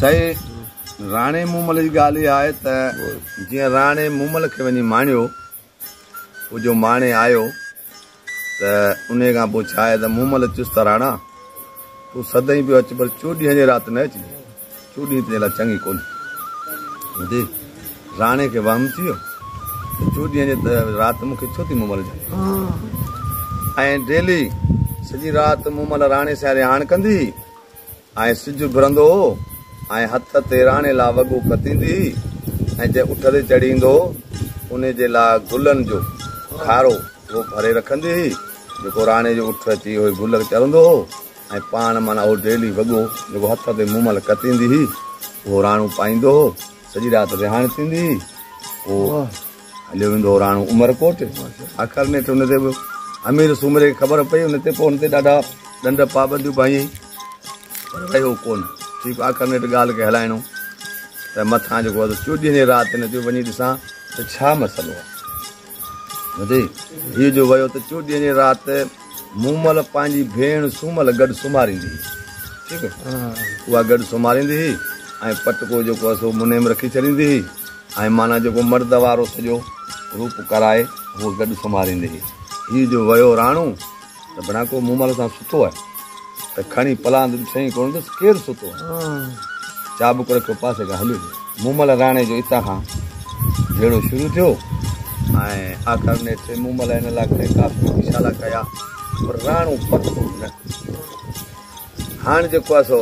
سائين راڻي مومل جي ڳالهه اها آهي ته جيئن راڻي مومل کي وڃي ماڻيو هو جو ماڻي آيو ته ان کان پوء ڇا آهي ته مومل چيس ته راڻا تون سدائين پيو اچ پر چوڏهين جي رات نه اچجي چوڏهين تنهنجي لاء چڱي ڪونهي ٻڌي راڻي کي وهم ٿي ويو چوڏهين جي رات مون کي ڇو ٿي مومل جائي ۽ ڊيلي سڄي رات مومل راڻي سان رهاڻ ڪندي ۽ سج اڀرندو هو ۽ هٿ تي راڻي لاء وڳو کتيندي هئي ۽ جنهن اٺ تي چڙهي ايندو هو انهي جي لاء گلن جو کارو هوء ڀري رکندي هئي جيڪو راڻي جو اٺ اچي اهي گل چرندو هو ۽ پاڻ معنيٰ اهو ڊيلي وڳو جيڪو هٿ تي مومل کتيندي هئي اهو راڻو پائيندو هو سڄي رات ويهاڻ ٿيندي هئي پوء هليو ويندو هو راڻو عمرڪوٽ. آخر نيٺ ان تي به امير سومري کي خبر پئي. ان تي پوء هن تي ڏاڍا ڏنڊ پابنديون پايائين پر رهيو ڪونه. ٺيڪ آخر نيٺ ڳالهه کي هلائڻو ته مٿان جيڪو هو چيو ڏينهن جي رات هن چيو وڃي ڏسان ته ڇا مسئلو آهي. ٻڌي هيء جو ويو ته چيو ڏينهن جي رات مومل پنهنجي ڀيڻ سومل گڏ سمهاريندي هئي. ٺيڪ اها گڏ سمهاريندي هئي ۽ پٽڪو جيڪو هو سو منهن ۾ رکي ڇڏيندي هئي ۽ معنيٰ جيڪو مرد وارو سڄو روپ ڪرائي هوء گڏ سمهاريندي هئي. هي جو ويو راڻو ته بڻا ڪو مومل سان سٺو آهي. ته کڻي پلاند ڏٺئين ڪونه ڏس ڪير ستو چابڪ رکيو پاسي کان هليو مومل راڻي جو اتان کان جهيڙو شروع ٿيو ۽ آخر نيٺ مومل هن لاء کڻي ڪافي اشارا ڪيا پر راڻو پکو نه هاڻ جيڪو آهي سو